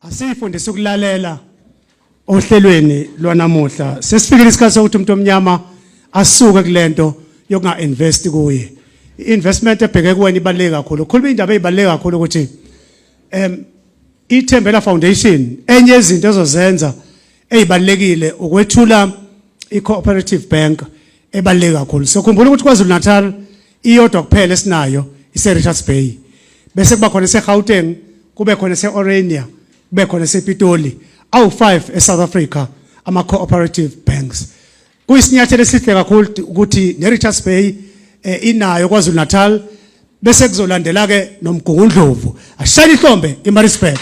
asiyifundisa ukulalela ohlelweni lwanamuhla sesifikile isikhathi sokuthi umuntu omnyama asuke kulento yokunga invest kuye investment ebheke kuwena ibaleke kakhulu ukhuluma indaba ezibaleke kakhulu ukuthi em IThembela Foundation enye yezinto ezozenza ezibalekile ukwethula iCooperative Bank ebaleke kakhulu. Sokhumbula ukuthi KwaZulu-Natal iyodwa kuphela esinayo iseRichards Bay. Bese kuba khona eseGauteng, kube khona eseOrania, kube khona esePitoli. Awu-5 eSouth Africa ama-cooperative banks. Kuyisinyathelo esihle kakhulu ukuthi neRichards Bay eh, inayo kwaZulu Natal bese kuzolandela ke nomgungundlovu ashayile ihlombe eMaritzburg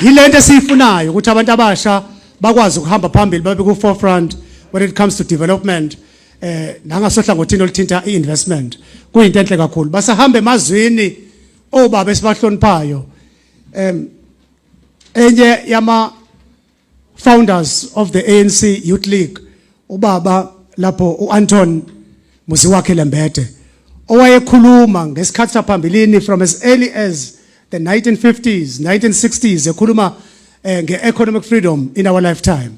yilento esiyifunayo ukuthi abantu abasha bakwazi ukuhamba phambili babe ku forefront when it comes to development eh nangasohlangothini olithinta iinvestment kuyinto enhle kakhulu basahamba emazwini obaba esibahloniphayo em enye yama founders of the ANC Youth League ubaba lapho uAnton Musiwakhe Lembede owayekhuluma ngesikhathi saphambilini from as early as the 1950s 1960s ekhuluma eh, nge-economic freedom in our lifetime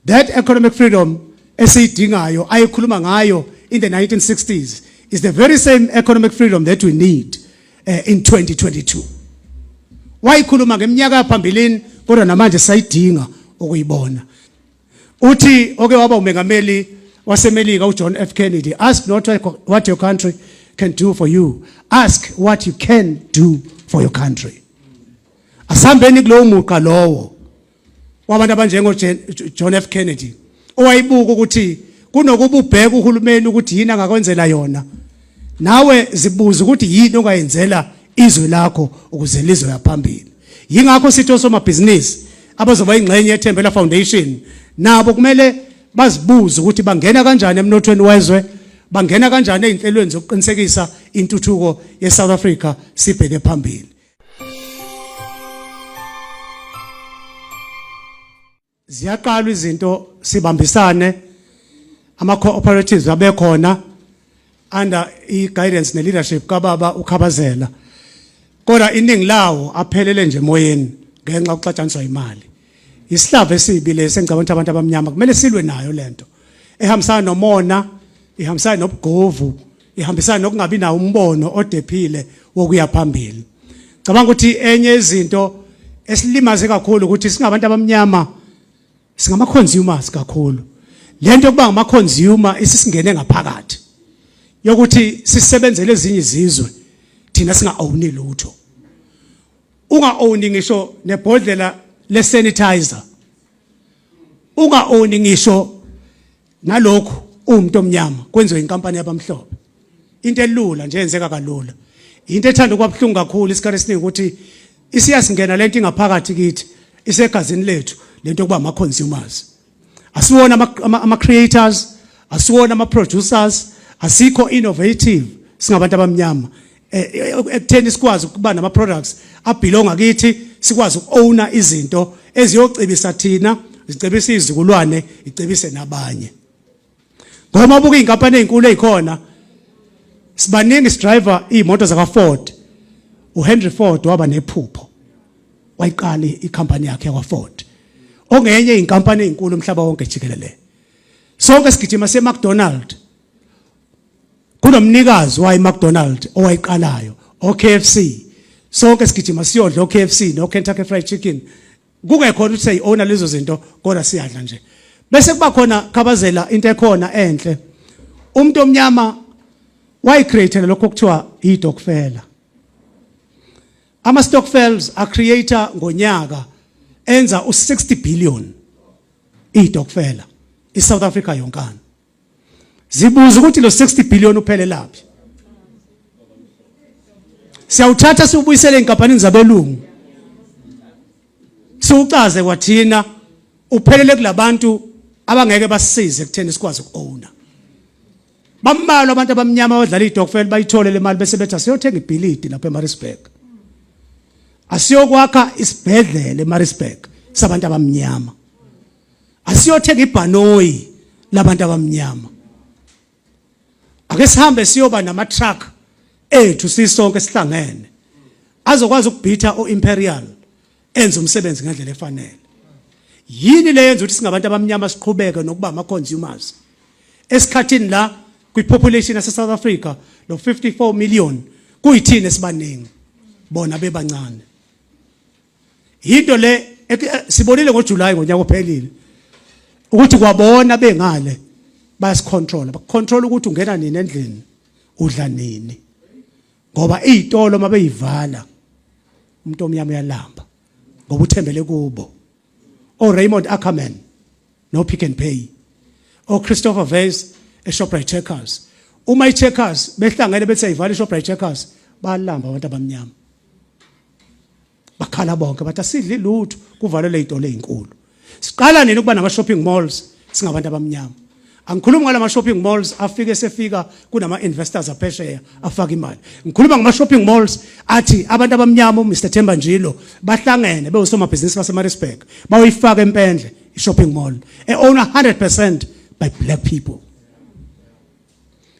that economic freedom esiyidingayo ayekhuluma ngayo in the 1960s is the very same economic freedom that we need eh, in 2022 wayikhuluma ngeminyaka phambilini kodwa namanje sayidinga ukuyibona uthi oke waba umengameli wasemelika uJohn F Kennedy ask not what your country can do for you ask what you can do for your country asihambeni kulowo muqa lowo wabantu abanjengo John F Kennedy owayibuka ukuthi kunokuba ubheke uhulumeni ukuthi yini angakwenzela yona nawe zibuza ukuthi yini ongayenzela izwe lakho ukuze lizwe yaphambili yingakho sithi osomabhizinisi abazoba ingxenye yethembela foundation nabo kumele bazibuze ukuthi bangena kanjani emnothweni wezwe bangena kanjani ezinhlelweni zokuqinisekisa intuthuko yeSouth Africa sibheke phambili ziyaqalwa izinto sibambisane ama cooperatives abekhona under i guidance ne leadership kababa ukhabazela kodwa iningi lawo aphelele nje emoyeni ngenxa yokuxatshaniswa imali isihlava esibi lesi engicabanga ukuthi abantu abamnyama kumele silwe nayo lento ehambisana nomona ihambisana nobugovu ihambisana nokungabi nawo umbono odephile wokuya phambili cabanga ukuthi enye izinto esilimaze kakhulu ukuthi singabantu abamnyama singama consumers kakhulu lento yokuba ngama consumer isisingene ngaphakathi yokuthi sisebenzele ezinye izizwe thina singa owni lutho unga owni ngisho nebhodlela le sanitizer unga owni ngisho nalokhu uwumuntu omnyama kwenziwe inkampani yabamhlophe into elula nje yenzeka kalula into ethanda ukuba buhlungu kakhulu isikhathi esiningi ukuthi isiyasingena lento ingaphakathi kithi isegazini lethu lento kuba ama consumers asiwona ama creators asiwona ama producers asikho innovative singabantu abamnyama eh, eh, ekutheni sikwazi ukuba nama products abhilonga kithi sikwazi ukuowna izinto eziyocebisa thina zicebisa izizukulwane icebise nabanye ngoba ubuka izinkampani ezinkulu ezikhona sibaningi sidriver imoto zaka Ford uHenry Ford waba nephupho wayiqala icompany yakhe yakwa Ford ongenye inkampani ezinkulu umhlaba wonke jikelele sonke sigijima se McDonald's kunomnikazi wayi McDonald owayiqalayo oKFC sonke sigijima siyodla oKFC noKentucky Fried Chicken kungekhona ukuthi siyiona lezo zinto kodwa siyadla nje bese kuba khona khabazela into ekhona enhle umuntu omnyama wayicreatela lokho kuthiwa idokfela ama stockfels a creator ngonyaka enza u60 billion idokfela iSouth Africa yonkana Zibuza ukuthi lo 60 billion uphelelaphi. Siyawuthatha siwubuyisele enkampanini zabelungu. Siwucaze kwathina uphelele kulabantu abangeke basisize kutheni sikwazi ukuowner. Bambalwa abantu abamnyama abadlala idokfel bayithole le mali bese bethi asiyothenga ibhilidi lapha eMaritzburg. Asiyokwakha isibhedlela eMaritzburg sabantu abamnyama. asiyothenga ibhanoyi labantu abamnyama ake sihambe siyoba nama truck ethu sisonke sihlangene azokwazi ukubhitha oimperial enza umsebenzi ngendlela efanele yini le yenza ukuthi singabantu abamnyama siqhubeke nokuba ama consumers esikhathini la kwi population yase South Africa lo 54 million kuyithini esibaningi bona bebancane yinto le sibonile ngoJuly ngonyaka ophelile ukuthi kwabona bengale bayasicontrola bakucontrola ukuthi ungena nini endlini udla nini ngoba izitolo mabeyivala umuntu omnyama uyalamba ngoba uthembele kubo o oh, Raymond Ackerman no Pick and Pay o oh, Christopher Vase eShoprite Checkers uma iCheckers behlangene bethi ayivala iShoprite Checkers balamba abantu abamnyama bakhala bonke bathi asidli lutho kuvalelwe izitolo ezinkulu siqala nini ukuba nama shopping malls singabantu abamnyama angikhulumi ngala ma shopping malls afike sefika kunama investors aphesheya afaka imali ngikhuluma ngama shopping malls athi abantu abamnyama uMr Themba Njilo bahlangene bewusomabhizinisi baseMaritzburg bayoyifaka empendle i shopping mall e owner 100% by black people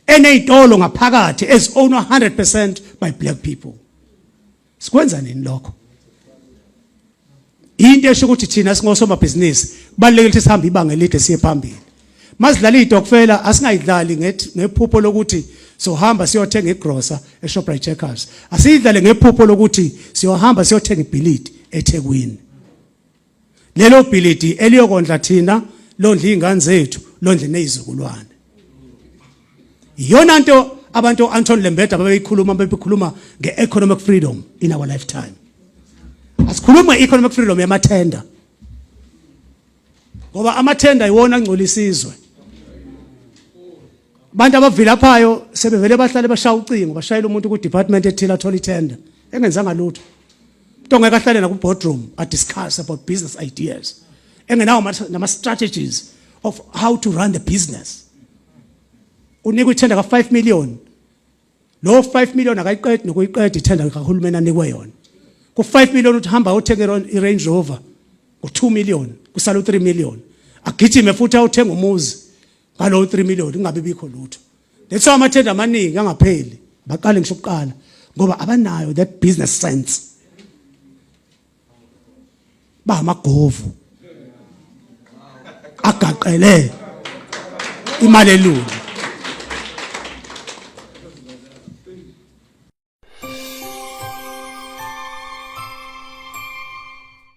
enezitolo ngaphakathi as owned 100% by black people sikwenza nini lokho into esho ukuthi thina singosomabhizinisi balekile ukuthi sihambe ibanga elide siye phambili mazidlala idokfela asingayidlali ngephupho lokuthi sohamba siyothenga igrosa eShoprite Checkers asiyidlale ngephupho lokuthi siyohamba siyothenga ibhilidi eThekwini lelo bhilidi eliyokondla thina londla izingane zethu londle nezizukulwane iyona nto abantu Anton Lembede ababeyikhuluma bebekhuluma ngeeconomic freedom in our lifetime asikhuluma economic freedom yamathenda ngoba amathenda iwona angcola isizwe abantu abavilaphayo sebevele bahlale bashaya ucingo bashayela umuntu ku department ethile athola itender engenzanga lutho into ongeke ahlale naku boardroom a discuss about business ideas engenawo nama strategies of how to run the business unikwa ithenda ka 5 million lo 5 million akayiqedi nokuyiqeda ithenda kahulumeni anikwe yona ku 5 million uthi hamba uthenge i Range Rover ku 2 million kusala u 3 million agijime futhi awuthenga umuzi ngalowo 3 million kungabe bikho lutho that's why amathenda amaningi angapheli baqale ngisho ukuqala ngoba abanayo that business sense bamagovu agaqele imali elungu